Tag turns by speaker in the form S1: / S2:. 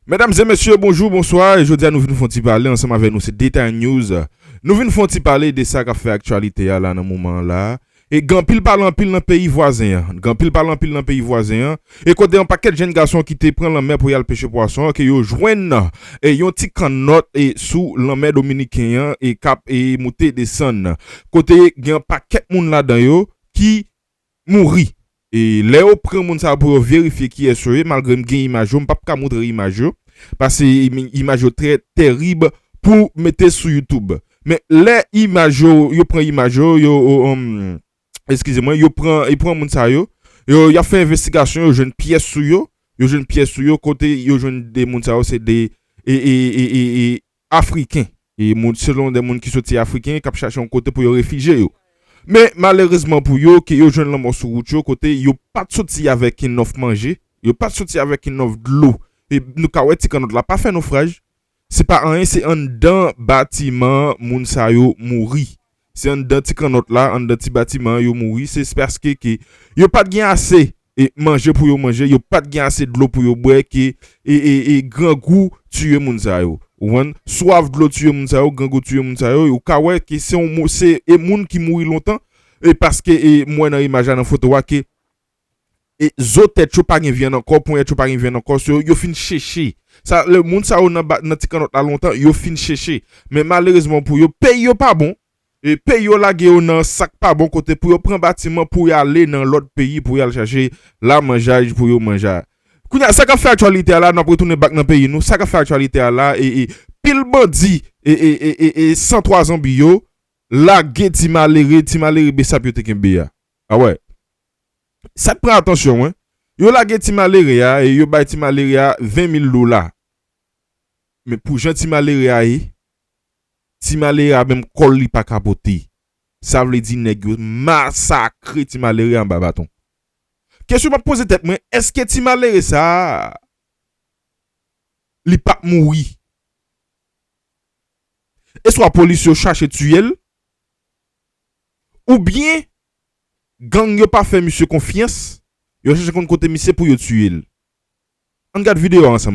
S1: Medam e mesye bonjou bonswa jodia nou vin fon ti pale ansanm avè nou se detay news nou vin fon ti pale de sa kap fè aktyalite a la nan moman an la e gen anpil pale anpil nan peyi vwazen an gen anpil pale anpil nan peyi vwazen an e kote yon pakèt jenn gason ki te pran lanmè pou yal peche pwason an ke yo jwenn nan e yon ti kannòt e sou lanmè dominiken an e kap e moute desann kote gen yon pakèt moun ladan yo ki. mouri e lè yo pran moun sa yo pou yo verifye kiyès yo ye malgre m gen imaj yo m pap ka moutre imaj yo pase imaj yo trè tèrib pou mete sou youtube men lè imaj yo yo pran imaj yo yo eskize mwen yo pran yo pran moun sa yo yo yap fè envestigasyon yo jwenn pyès sou yo yo jwenn pyès sou yo kote yo jwenn 2 moun sa yo se 2 e e e e e. Afriken, e moun selon de moun ki soti Afriken kap chache yon kote pou yo refije yo. Men malerezman pou yo ke yo jwenn lanmò sou wout yo kote yo pat soti avèk inòf manje, yo pat soti avèk inòf dlo, e nou ka wè ti kannòt la pa fè nofraj, se pa anyen se anndan batiman moun sa yo mouri. Se anndan ti kannòt la, anndan ti batiman an yo mouri, se paske ke yo pat gen ase manje pou yo manje, yo pat gen ase dlo pou yo bwè ke grangou tiye moun sa yo. Ou konprann? Swaf dlo tiye moun sa yo, grangou tiye moun sa yo, ou ka wè ke se yon moun ki mouri lontan, e paske mwen nan imaj la nan foto a ke e zo tèt yo pa gen vyann ankò, ponyèt yo pa gen vyann ankò, so yo fin cheche. Sa lè moun sa yo nan ti kannòt la lontan, yo fin cheche. Men malerezman pou yo, peyi yo pa bon. E peyi yo lage yo nan sa k pa bon kote pou yo pran batiman pou y ale nan lòt peyi pou y al chache lamanjay pou yo manja. Kounye a, sa k ap fè aktyalite a la, n ap retounen bak nan peyi nou, sa k ap fè aktyalite a la, e pil bandi e san twa zonbi yo lage ti malere, ti malere besap yo te kenbe a. A wè. Sa k pran atansyon mwen, yo lage ti malere a e yo bay ti malere a 20 mil dola. Men pou jan ti malere a ye, ti malere a menm kò l li pa ka pote. Sa vle di nèg yo masakre ti malere anba baton. Kesyon m ap poze tèt mwen, èske ti malere sa a li pa p mouri? Eswa polis yo chache tiye l? Oubyen gang yo pa fè misye konfyans, yo chèche konn kote misye pou yo tiye l. Ann gad video a ansanm.